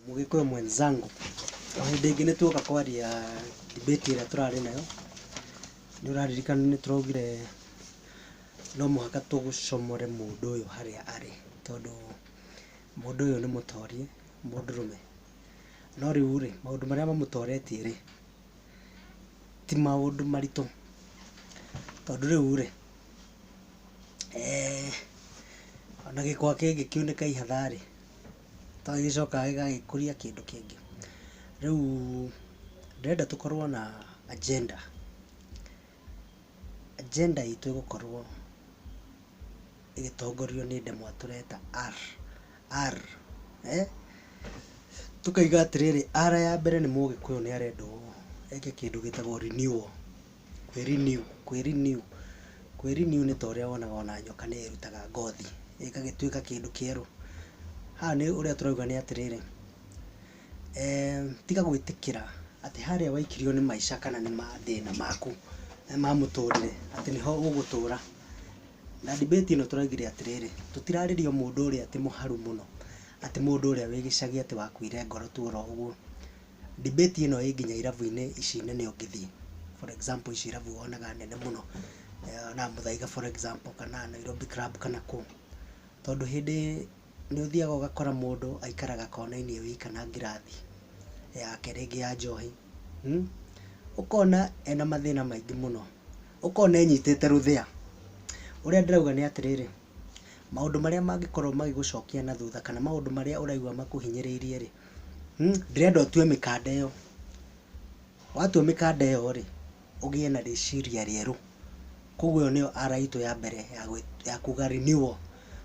Mũgĩkũyũ mwenzangu, o hĩndĩ ĩngĩ nĩ tuoka kwaria debate ĩrĩa tũrarĩ nayo, nĩ ũraririkana nĩ tũraugire no mũhaka tũcomore mũndũ ũyũ harĩa arĩ tondũ mũndũ ũyũ nĩ mũtorie, mũndũrũme. No rĩu rĩ, maũndũ marĩa mamũtoretie rĩ, ti maũndũ maritũ tondũ rĩu rĩ, ona gĩkwa kĩngĩkiunĩka ihatha rĩ... ta gĩcoka gĩgagĩkũria kĩndũ kĩngĩ. Rĩu ndĩrenda tũkorwo na agenda, agenda itũ ĩgũkorwo ĩgĩtongorio nĩ ndemwa tũreta R, R, eeh, tũkauga atĩrĩrĩ R ya mbere nĩ mũgĩkũyũ nĩ arenda ũũ, eke kĩndũ gĩtagwo renewal. Kwĩ renew, kwĩ renew, kwĩ renew nĩ ta ũrĩa wonaga ona nyoka nĩ ĩrutaga ngothi ĩgagĩtuĩka kĩndũ kĩerũ. Haha nĩ ũrĩa tũrauga nĩ atĩrĩrĩ, tiga gwĩtĩkĩra atĩ harĩa waikirio nĩ maica kana nĩ mathĩna maku ma mũtũrĩre atĩ nĩho ũgũtũra. Na debate ĩno tũraugire atĩrĩrĩ, tũtirarĩria mũndũ ũrĩa atĩ mũharu mũno, atĩ mũndũ ũrĩa wĩ gĩcagi atĩ wakuire ngoro tu oro ũguo. Debate ĩno ĩ nginya irabu-inĩ ici nene ũngĩthiĩ. For example ici irabu wonaga nene mũno, wonaga Muthaiga for example kana Nairobi Club kana kũ. Tondũ hĩndĩ nĩ ũthiaga ũgakora mũndũ aikaraga kona-inĩ e wika na ngirathi yake rĩngĩ ya njohi. Ũkona ena mathĩna maingĩ mũno. Ũkona enyitĩte rũthĩa. Ũrĩa ndĩrauga nĩ atĩrĩrĩ, maũndũ marĩa mangĩkorwo magĩgũcokia na thutha kana maũndũ marĩa ũraigua makũhinyĩrĩirie rĩ... Ndĩrenda ũtue mĩkanda ĩyo, watua mĩkanda ĩyo rĩ, ũgĩe na rĩciria rĩerũ. Koguo ĩyo nĩyo ara itũ ya mbere ya kuuga renewal.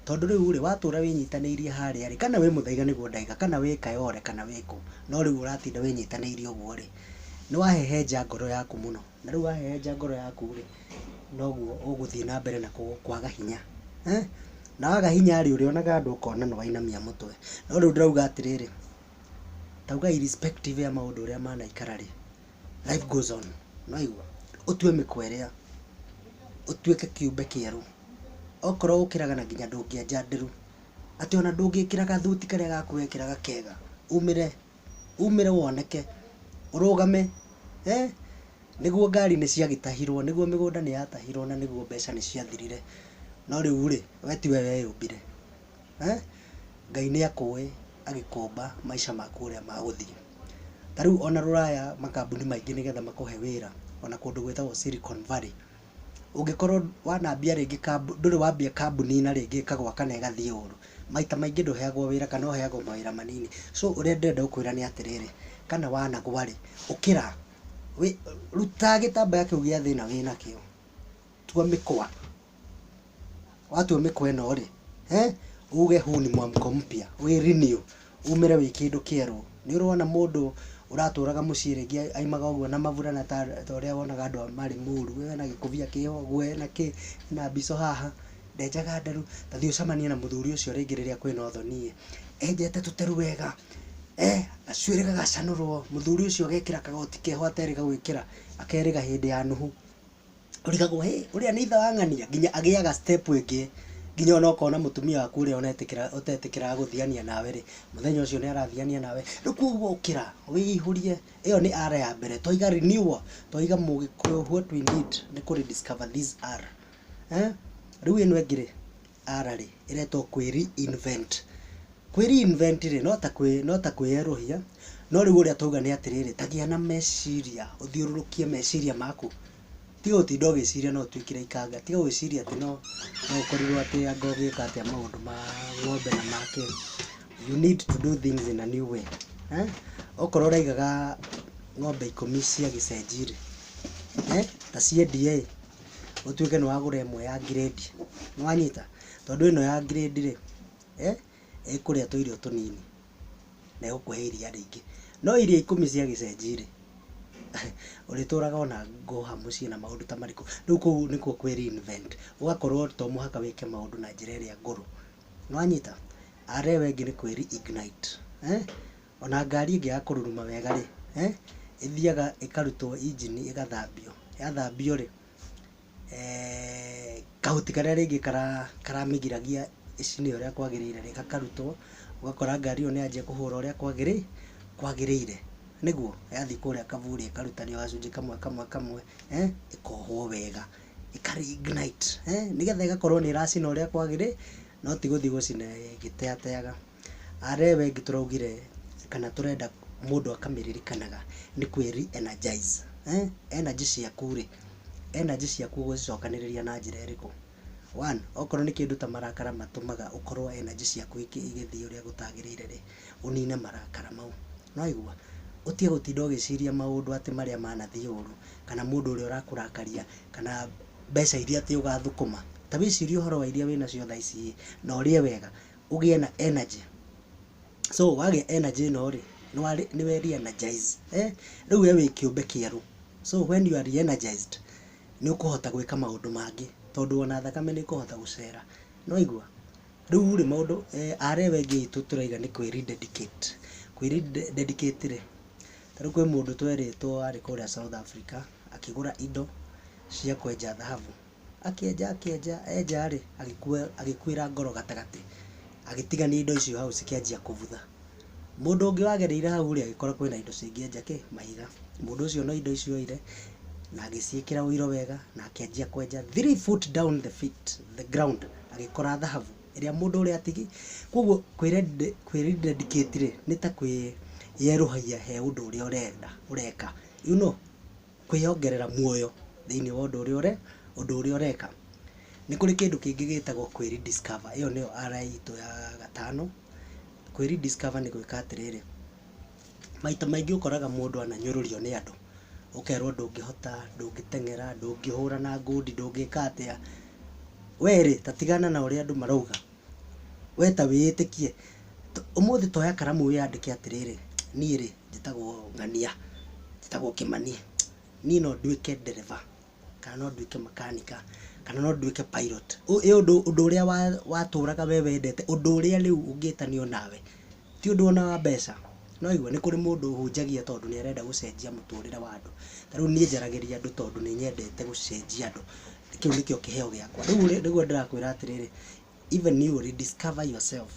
Tondũ rĩu rĩ, watũra wĩnyitanĩirie harĩa rĩ, kana wĩ mũthaiga nĩguo ndaiga, kana wĩ Kayole kana wĩ kũ, no rĩu ũratinda wĩnyitanĩirie ũguo rĩ, nĩ wahehenja ngoro yaku mũno. Na rĩu wahehenja ngoro yaku rĩ, noguo ũgũthiĩ na mbere na kwaga hinya. Na waga hinya rĩ, ũrĩonaga andũ ũkona nĩ wainamia mũtwe. No rĩu ndĩrauga atĩrĩrĩ, ndauga irrespective ya maũndũ ũrĩa manaikara rĩ, life goes on. Nĩ waigua? Ũtue mĩkwa ĩrĩa, ũtuĩke kĩũmbe kĩerũ. Okorwo ũkĩraga na nginya ndũngĩenja ndĩru, atĩ ona ndũngĩkĩraga gathuti karĩa gaku wekĩraga kega, umĩre. umĩre woneke, ũrũgame, he, nĩguo ngari nĩ ciagĩtahirwo, nĩguo mĩgũnda nĩ yatahirwo na nĩguo mbeca nĩ ciathirire, no rĩu rĩ, we tiwe weyũmbire, he, Ngai nĩ akũĩ agĩkũmba maica maku ũrĩa magũthiĩ. Ta rĩu ona rũraya makambuni maingĩ nĩgetha makũhe wĩra, ona kũndũ gwĩtagwo Silicon Valley. ũngĩkorwo wanambia rĩngĩ kambũ, ndũrĩ wambia kambũni na rĩngĩ ĩkagwa kana ĩgathiĩ ũru, maita maingĩ ndũheagwo wĩra kana ũheagwo mawĩra manini. So ũrĩa ndĩrenda gũkwĩra nĩ atĩrĩrĩ, kana wanagwa rĩ, ũkĩra, wĩ, ruta gĩtambaya kĩu gĩa thĩna wĩnakĩo, tua mĩkwa. Watua mĩkwa ĩno rĩ, uge huu ni mwamko mpya, wĩ renew, umĩre wĩ kĩndũ kĩerũ. Nĩ ũrona mũndũ ũratũraga mũciĩ rĩngĩ aumaga ũguo na maburana ta ũrĩa wonaga andũ marĩ mũru, we wĩna gĩkũbia kĩho, nguo ĩna kĩ, ĩna mbicũ haha, ndenjaga nderu, ta thiĩ ũcemanie na mũthuri ũcio rĩngĩ rĩrĩa kwĩna ũthoni ĩ, enjete tũteru wega, gacuĩrĩ gagacanũrwo, mũthuri ũcio agekĩra kagoti keho aterĩga gwĩkĩra, akerĩga hĩndĩ ya nũhu. ũrigagwo hĩ ũrĩa nĩ ithe wa ng'ania? Nginya agĩaga step ĩngĩ nginya ona ũkona mũtumia waku ũrĩa ũnetĩkĩra ũtetĩkĩraga gũthiania nawe rĩ, mũthenya ũcio nĩ arathiania nawe. Rĩu kũguo ũkĩra, wĩihũrie, ĩyo nĩ R ya mbere. Twaiga renewal, twaiga Mũgĩkũyũ what we need nĩ kũ rediscover these R. Rĩu ĩno ĩngĩ rĩ? ara rĩ, ĩretwo kwĩ reinvent. Kwĩ reinvent rĩ, no ta kwĩ, no ta kwĩyerũhia, no rĩu ũrĩa twauga nĩ atĩrĩrĩ, ta gĩa na meciria, ũthiũrũrũkie meciria maku, tiga gũtinda ũgĩciria no ũtuĩkĩre ikanga, tiga gwĩciria atĩ no, no ũkorirwo atĩ anga ũgĩka atĩa maũndũ ma ng'ombe na ma kĩ, you need to do things in a new way. Okorwo ũraigaga ng'ombe ikũmi cia gĩcenjirĩ, ta ciendia ĩ. ũtuĩke nĩ wagũra ĩmwe ya ngirĩndi, nĩ wanyita? Tondũ ĩno ya ngirĩndi rĩ, ĩkũrĩa tũirio tũnini na ĩgũkũhe iria rĩingĩ. No irio ikũmi cia gĩcenjii rĩ, ũrĩtũraga ona ngũha mũciĩ na maũndũ ta marĩkũ? Rĩu kũu nĩkuo kwĩ re invent, ũgakorwo to mũhaka wĩke maũndũ na njĩra ĩrĩa ngũrũ. Nĩ wanyita? Arĩa aya angĩ nĩ kwĩ re ignite. O na ngari ĩngĩaga kũruruma wega-rĩ, ĩthiaga ĩkarutwo injini ĩgathambio. Yathambio-rĩ, kahuti karĩa rĩngĩ karamĩgiragia ĩcine ũrĩa kwagĩrĩire-rĩ, gakarutwo, ũgakora ngari ĩyo nĩyanjia kũhũra ũrĩa kwagĩrĩire. Nĩguo? Yathiĩ kũrĩa kaburi ĩkarutanio gacunjĩ kamwe kamwe kamwe, ĩkohwo wega, ĩka re-ignite, nĩgetha ĩgakorwo nĩĩracina ũrĩa kwagĩrĩire, no ti gũthiĩ gũcina ĩgĩteateaga. Are wengi tũraugire kana tũrenda mũndũ akamĩririkanaga nĩ kwĩ re energize. Energy ciaku rĩ, energy ciaku ũgũcicokanĩrĩria na njĩra ĩrĩkũ? One, okorwo nĩ kĩndũ ta marakara matũmaga ũkorwo energy ciaku igĩthiĩ ũrĩa gũtagĩrĩire rĩ, ũnine marakara mau. Nĩ waigua? Ũtige gũtinda ũgĩciria maũndũ atĩ marĩa manathiĩ ũru, kana mũndũ ũrĩa ũrakũrakaria, kana mbeca irĩa atĩ ũgathũkũma. Ta wĩcirie ũhoro wa irĩa wĩnacio thaa ici ĩĩ, na ũrĩe wega. ũgĩe na energy. So wagĩa energy ĩno rĩ, nĩ we re-energize. Rĩu we wĩ kĩũmbe kĩerũ. So when you are re-energized, nĩ ũkũhota gwĩka maũndũ mangĩ tondũ ona thakame nĩ ĩkũhota gũcera. Nĩ waigua? Rĩu rĩ, maũndũ, aarĩ we aingĩ aitũ tũraiga nĩ kwĩ re-dedicate. Kwĩ re-dedicate rĩ, ta rĩu kwĩ mũndũ twerĩtwo arĩ kũrĩa South Africa akĩgũra indo cia kwenja thahabu. Akĩenja akĩenja enja rĩ, agĩkua agĩkuĩra ngoro gatagatĩ. Agĩtigania indo icio hau cikĩanjia kũbutha. Mũndũ ũngĩ wagereire hau rĩ, agĩkora kwĩna indo cingĩenja kĩ? Mahiga. Mũndũ ũcio no indo ici oire, na agĩciĩkĩra ũiro wega, na akĩanjia kwenja three foot down the feet, the ground, agĩkora thahabu, ĩrĩa mũndũ ũrĩa atigi. Koguo kwĩrended kwĩrindedicate rĩ, nĩ ta kwĩyerũhagia he ũndũ ũrĩa ũrenda ũreka. You know? kwĩyongerera muoyo thĩinĩ wa ũndũ ũrĩa ũreka. Nĩ kũrĩ kĩndũ kĩngĩ gĩtagwo kwĩ rediscover, ĩyo nĩyo RI itũ ya gatano. Kwĩ rediscover nĩ gwĩka atĩrĩrĩ, maita maingĩ ũkoraga mũndũ ananyũrũrio nĩ andũ, ũkerwo ndũngĩhota, ndũngĩteng'era, ndũngĩhũra na ngundi, ndũngĩka atĩa, we rĩ ta tigana na ũrĩa andũ marauga, we ta wĩĩtĩkie. Ũmũthĩ ta oya karamu wĩyandĩke atĩrĩrĩ, niĩ rĩ... Njĩtagwo ng'ania, njĩtagwo kĩmani, niĩ no nduĩke ndereba, kana no nduĩke makanika, kana no nduĩke pilot. He ũndũ ũndũ ũrĩa wa watũraga we wendete, ũndũ ũrĩa rĩu ũngĩtanio nawe, ti ũndũ ona wa mbeca, nĩ waigua, nĩ kũrĩ mũndũ ũhũnjagia tondũ nĩ arenda gũcenjia mũtũrĩre wa andũ, ta rĩu niĩ njaragĩria andũ tondũ nĩ nyendete gũcenjia andũ, kĩu nĩkĩo kĩheo gĩakwa. Rĩu rĩ, nĩguo ndĩrakwĩra atĩrĩrĩ, even you rediscover yourself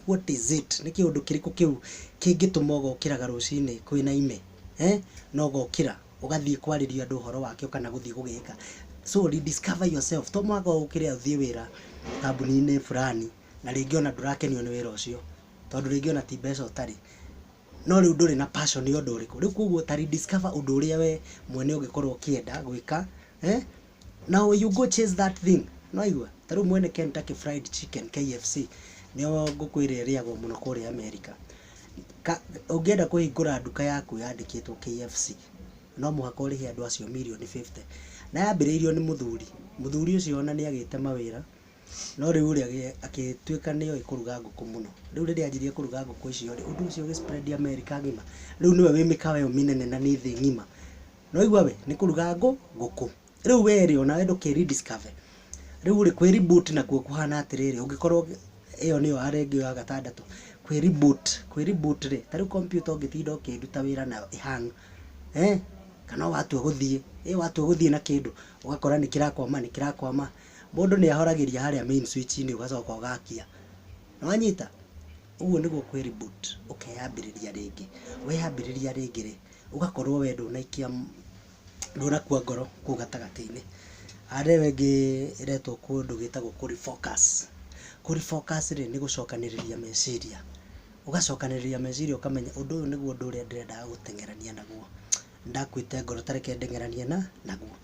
what is it nĩ kĩũndũ kĩrĩkũ kĩu kĩngĩtũma ũgokĩraga rũcinĩ kwĩna ime eh? na ũgokĩra ũgathiĩ kwarĩria andũ ũhoro wakĩo kana gũthiĩ gũgĩka so rediscover yourself to mwaka ũkĩrĩa ũthiĩ wĩra kambuni-inĩ fulani na rĩngĩ ona ndũrakenio nĩ wĩra ũcio tondũ rĩngĩ ona ti mbeca ũtarĩ no rĩu ndũrĩ na passion nĩ ũndũ ũrĩkũ rĩu koguo ta rediscover ũndũ ũrĩa we mwene ũngĩkorwo ũkĩenda gwĩka eh? now you go chase that thing noigua ta rĩu mwene Kentucky fried chicken KFC nĩo ngũkwĩra ĩrĩagwo mũno kũrĩa America Ka- ũngĩenda kũhingũra nduka yaku yandĩkĩtwo KFC no mũhaka ũrĩhe andũ acio mirioni 50 na yambĩrĩirio nĩ mũthuri mũthuri ũcio ona nĩ agĩte mawĩra no rĩu rĩ agĩ- agĩtuĩka nĩ oĩ kũruga ngũkũ mũno rĩu rĩrĩa anjirie kũruga ngũkũ icio rĩ ũndũ ũcio ũgĩ spread America ng'ima rĩu nĩwe wĩ mĩkawa ĩyo mĩnene na nĩ thĩ ng'ima Nĩwaigua we, nĩ kũruga ngũ, ngũkũ. Rĩu we rĩ, onawe ndũke rediscover. Rĩu rĩ, kwĩ reboot nakuo kũhana atĩrĩrĩ, ũngĩkorwo ĩyo nĩyo ya rĩngĩ ĩyo ya gatandatũ, kwĩ reboot. Kwĩ reboot rĩ, ta rĩu kompiuta ũngĩtinda ũkĩruta wĩra nayo ĩ hang, eeh, kana watua gũthiĩ, ĩ watua gũthiĩ na kĩndũ, ũgakora nĩ kĩrakwama, nĩ kĩrakwama, mũndũ nĩ ahoragĩria harĩa main switch inĩ ũgacoka ũgakia. Nĩwanyita? Ũguo nĩguo kwĩ reboot, ũkeyambĩrĩria rĩngĩ. Weyambĩrĩria rĩngĩ rĩ, ũgakorwo we ndũnaikia, ndũnakua ngoro kũu gatagatĩ-inĩ. Aya nĩo rĩngĩ ĩretwo kũndũ gwĩtagwo kũ refocus. Kũ refocus rĩ, nĩ gũcokanĩrĩria meciria. Ũgacokanĩrĩria meciria ũkamenya ũndũ ũyũ nĩguo ũndũ ũrĩa ndĩrendaga gũteng'erania naguo. Nĩ ndakuĩte ngoro ta reke ndeng'eranie na, naguo.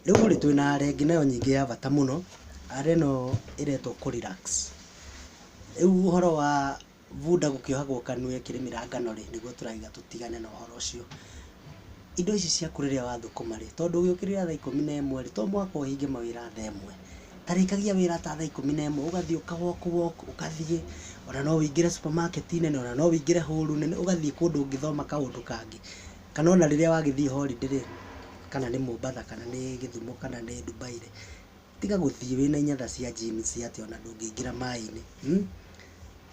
Rĩu rĩ, twĩna ara ĩngĩ nayo nyingĩ ya bata mũno, ara ĩno ĩretwo kũ relax. Rĩu ũhoro wa bunda gũkĩohagwo kanua ĩkĩrĩmĩra ngano rĩ, nĩguo tũrauga tũtigane na ũhoro ũcio. Indo ici ciaku rĩrĩa wathũkũma rĩ, tondũ ũgĩũkĩrĩra thaa ikũmi na ĩmwe rĩ, to mũhaka ũhinge mawĩra thaa ĩmwe. Ta rĩkagia wĩra ta thaa ikũmi na ĩmwe, ũgathiĩ ũka walk walk, ũgathiĩ, ona no ũingĩre supermarket nene, ona no ũingĩre hũru nene, ũgathiĩ kũndũ ũngĩthoma kaũndũ kangĩ. Kana ona rĩrĩa wagĩthiĩ holiday rĩ, kana nĩ Mombatha, kana nĩ Gĩthumo, kana nĩ Dubai rĩ. tiga gũthiĩ wĩna inyatha cia jeans cia atĩ ona ndũngĩingĩra maĩ-inĩ hmm?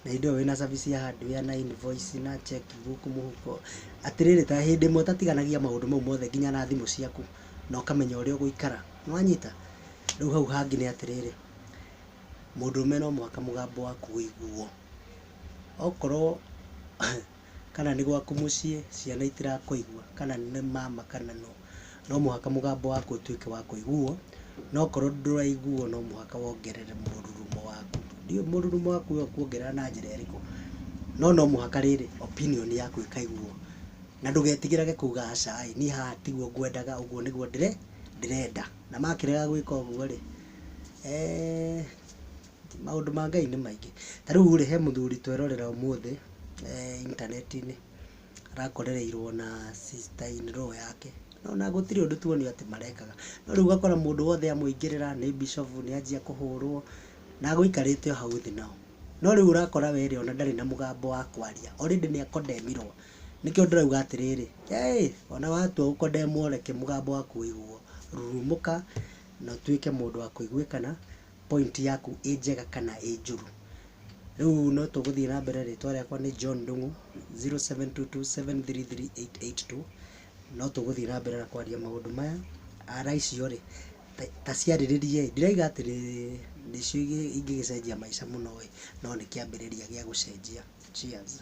na hĩndĩ ĩyo wĩna cabi cia hardware na invoice na check book mũhuko atĩrĩrĩ ta hĩndĩ ĩmwe ũtatiganagia maũndũ mau mothe nginya na thimũ ciaku na ũkamenya ũrĩa ũgũikara nĩwanyita rĩu hau hangĩ nĩ atĩrĩrĩ mũndũrũme no mũhaka mũgambo waku ũiguo okorwo kana nĩ gwaku mũciĩ, ciana itirakũigua, kana nĩ mama kana nũ, no mũhaka mũgambo waku ũtuĩke wa kũiguo, na okorwo ndũraiguo no mũhaka wongerere mũrurumo waku. Ndiũĩ mũrurumo waku we ũkuongerera na njĩra ĩrĩkũ, no no mũhaka rĩrĩ, opinion yaku ĩkaiguo. Na ndũgetigĩrage kuuga aca ĩ, niĩ haha tiguo ngwendaga, ũguo nĩguo ndĩrenda. Na makĩrega gwĩka ũguo rĩ, eeh. Maũndũ ma Ngai nĩ maingĩ. Ta rĩu rĩ, he mũthuri twerorera ũmũthĩ intaneti-inĩ, arakorereirwo na sister in law yake, na ona gũtirĩ ũndũ tuonio atĩ marekaga. No rĩu ũgakora mũndũ wothe amũingĩrĩra, nĩ bishofu, nĩ anjia kũhũrwo, na gũikarĩte o hau thĩ nao. No rĩu ũrakora we rĩ, ona ndarĩ na mũgambo wa kwaria, already nĩ a condemn irwo. Nĩkĩo ndĩrauga atĩrĩrĩ, hei, ona watua gũ condemn reke mũgambo waku ũiguo. Rurumũka, na ũtuĩke mũndũ wa kũiguĩkana, point yaku ĩ njega kana ĩ njũru. Rĩu no tũgũthiĩ na mbere, rĩtwa rĩakwa nĩ John Ndung'u, 0722733882. No tũgũthiĩ na mbere na kwaria maũndũ maya. Ara icio rĩ, ta ciarĩrĩrie ĩ, ndirauga atĩ nĩcio ingĩgĩcenjia maica mũno ĩ, no nĩ kĩambĩrĩria gĩa gũcenjia. Cheers.